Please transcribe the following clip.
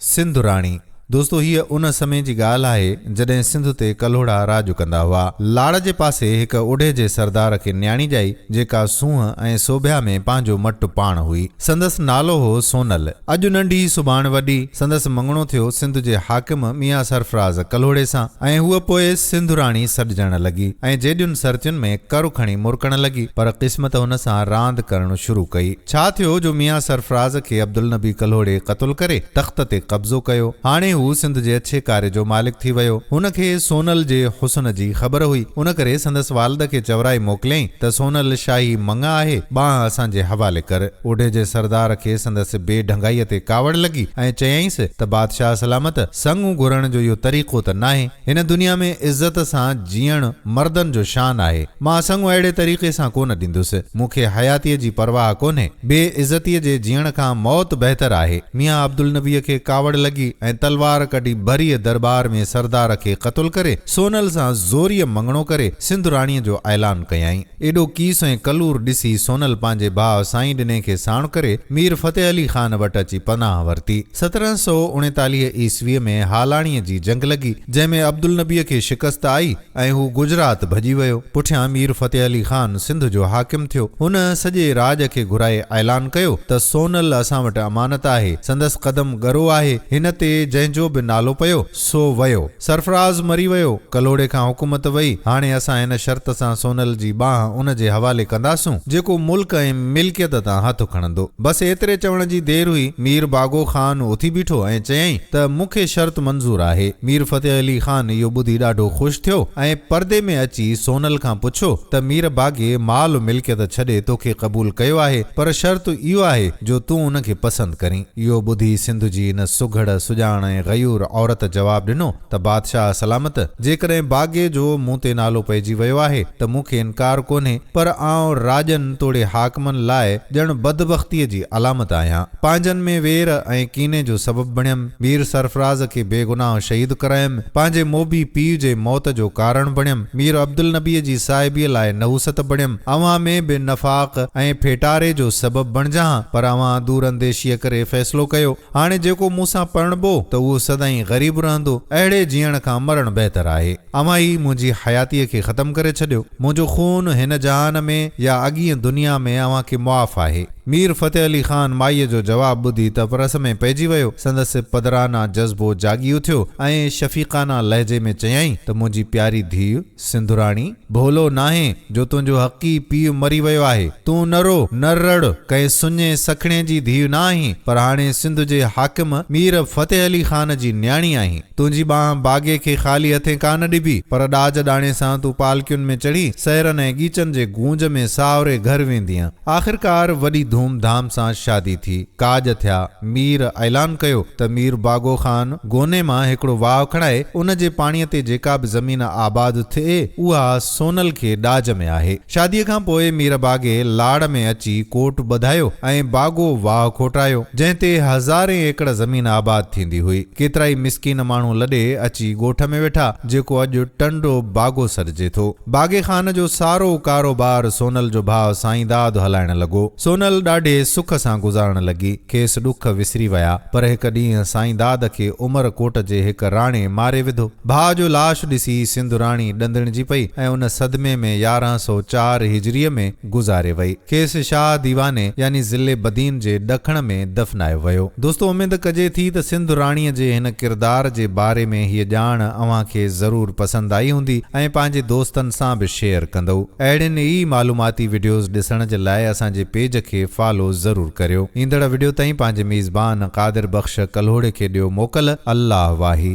سنڌ راڻي، دوستو هيء ان سمي جي ڳالهه آهي، جڏهن سنڌ تي ڪلهوڙا راڄ ڪندا هئا. لاڙ جي پاسي هڪ اڍي جي سردار کي نياڻي ڄائي، جيڪا سونهن ۽ سوڀيا ۾ پنهنجو مٽ پاڻ هئي. سندس نالو هو سونل. اڄ ننڍي، سڀاڻ وڏي، سندس مڱڻو ٿيو سنڌ جي حاڪم ميان سرفراز ڪلهوڙي سان ۽ هوء پوء سنڌ راڻي سڏجڻ لڳي ۽ جيڏين سرتين ۾ ڪر کڻي مرڪڻ لڳي، پر قسمت هن سان راند ڪرڻ شروع ڪئي. ڇا ٿيو جو ميان سرفراز کي عبدالنبي ڪلهوڙي قتل ڪري تخت تي قبضو ڪيو. هاڻي هو سنڌ جي اڇي ڪاري جو مالڪ ٿي ويو. هن کي سونل جي حسن جي خبر هئي. ان ڪري سندس والد کي چورائي موڪليائين ته سونل شاهي مڱ آهي، ٻانهن اسان جي حوالي ڪر. اوڍي جي سردار کي سندس بي ڍنگائيء تي ڪاوڙ لڳي ۽ چيائينس ته بادشاهه سلامت، سڱ گهرڻ جو اهو طريقو ته ناهي. هن دنيا ۾ عزت سان جيئڻ مردن جو شان آهي. مان سڱو اهڙي طريقي سان ڪونه ڏيندس. مون کي حياتيء جي پرواهه ڪونهي. بي عزتيء جي جيئڻ کان موت بهتر آهي. ميان عبدالنبيء کي ڪاوڙ لڳي ۽ تلوار ڪڍي ڀريء درٻار ۾ سردار کي قتل ڪري سونل سان زوريء مڱڻو ڪري سنڌ راڻيء جو اعلان ڪيائين. ايڏو ڪيس ۽ ڪلور ڏسي سونل پنهنجي ڀاء سائين ڏني کي ساڻ ڪري مير فتح علي خان وٽ اچي پناهه ورتي. سترهن سؤ اڻيتاليهه عيسويء ۾ هالاڻيء جي جنگ لڳي، جنهن ۾ عبدالنبيء کي شڪست آئي ۽ هو گجرات ڀڄي ويو. پٺيان مير فتح علي خان سنڌ جو حاڪم ٿيو. هن سڄي راڄ کي گهرائي اعلان ڪيو ته سونل اسان وٽ امانت آهي. سندس قدم ڳرو آهي. هن تي جنهن جو به نالو پيو، سو ويو. سرفراز مري ويو، ڪلهوڙي کان حڪومت وئي، هاڻي اسان ان شرط سان سونل جي ٻانهن ان جي حوالي ڪنداسون، جيڪو ملڪ ۽ ملڪيت تان هٿ کڻندو. بس ايتري چوڻ جي دير هئي، مير باگو خان اٿي بيٺو ۽ چيائين ته مون کي شرط منظور آهي. مير فتح علي خان اهو ٻڌي ڏاڍو خوش ٿيو ۽ پردي ۾ اچي سونل کان پڇيو ته مير باگي مال ملڪيت ڇڏي توکي قبول ڪيو آهي، پر شرط اهو آهي جو تون ان کي پسند ڪرين. اهو ٻڌي سنڌ جي ان سگهڙ، سڄاڻ ۽ غيور عورت جواب ڏنو ته بادشاهه سلامت! جيڪڏهن باغي جو مون تي نالو پئجي ويو آهي ته مون کي انڪار ڪونهي، پر آئون راڄن توڙي حاڪمن لاء ڄڻ بدبختيء جي علامت آهيان. پنهنجن ۾ وير ۽ ڪيني جو سبب بڻيم، مير سرفراز کي بي گناهه شهيد ڪرايم، پنهنجي موڀي پيء جي موت جو ڪارڻ بڻيم، مير عبدالنبيء جي صاحبيء لاء نحوست بڻيم، اوهان ۾ به نفاق ۽ ڦيٽاري جو سبب بڻجان ها، پر اوهان دور انديشيء ڪري فيصلو ڪيو. هاڻي جيڪو مون سان پرڻبو ته اهو سدائين غريب رهندو. اهڙي جيئڻ کان مرڻ بهتر آهي. اوهان ئي منهنجي حياتيء کي ختم ڪري ڇڏيو. منهنجو خون هن جهان ۾ يا اڳينء دنيا ۾ اوهان کي معاف آهي. مير فتح علي خان مائيء جو جواب ٻڌي تفرس ۾ پئجي ويو. سندس پدرانه جذبو جاڳي اٿيو ۽ شفيقانه لهجي ۾ چيائين ته منهنجي پياري ڌيء! سنڌوراڻي، ڀولو ناهين جو تنهنجو حقي پيء مري ويو آهي. تون نه رو، نه رڙ، ڪنهن سڃي سکڻي جي ڌيء نه آهين، پر هاڻي سنڌ جي حاڪم مير فتح علي خان جي نياڻي آهين. تنهنجي ٻانهن باغي کي خالي هٿين ڪا نه ڏبي، پر ڏاج ڏاڻي سان تون پالڪين ۾ چڙهي سهرن ۽ ڳيچن جي گونج ۾ ساهوري گهر ويندينء. آخرڪار وڏي ڌوم ڌام سان شادي ٿي، ڪاڄ ٿيا. مير اعلان ڪيو ته مير باگو خان گوني مان هڪڙو واهه کڻائي ان جي پاڻي تي جيڪا به زمين آباد ٿئي اها سونل کي ڏاج ۾ آهي. شادي کان پوء مير باگي لاڙ ۾ اچي ڪوٽ ٻڌايو ۽ باگو واهه کوٽرايو جنهن تي هزارين ايڪڙ زمين آباد ٿيندي هئي. ڪيترائي مسڪين ماڻهو لڏي اچي ڳوٺ ۾ ويٺا جيڪو اڄ ٽنڊو باگو سڏجي ٿو. باغي خان جو سارو ڪاروبار سونل جو ڀاء سائين داد هلائڻ لڳو. سونل ڏاڍي سک سان گذارڻ لڳي. کيس ڏک وسري ويا. پر هڪ ڏينهن سائين داد کي عمر ڪوٽ جي هڪ راڻي ماري وڌو. ڀاء جو لاش ڏسي سنڌ راڻي ڏندڻجي پئي ۽ ان صدمي ۾ يارهن سؤ چار هجريء ۾، گذاري وئي. کيس شاهه ديواني يعني ضلعي بدين جي ڏکڻ ۾ دفنايو ويو. دوستو اميد ڪجي ٿي ته سنڌ راڻيء جي هن ڪردار جي باري ۾ هيء ڄاڻ اوهان کي ضرور پسند آئي هوندي ۽ پنهنجي دوستن سان به شيئر ڪندئو. اهڙين ئي معلوماتي وڊيوز ڏسڻ جي لاء اسان جي پيج کي فالو ضرور ڪريو. ايندڙ وڊيو تائين پنهنجي ميزبان قادر بخش ڪلهوڙي کي ڏيو موڪل. الله واهي.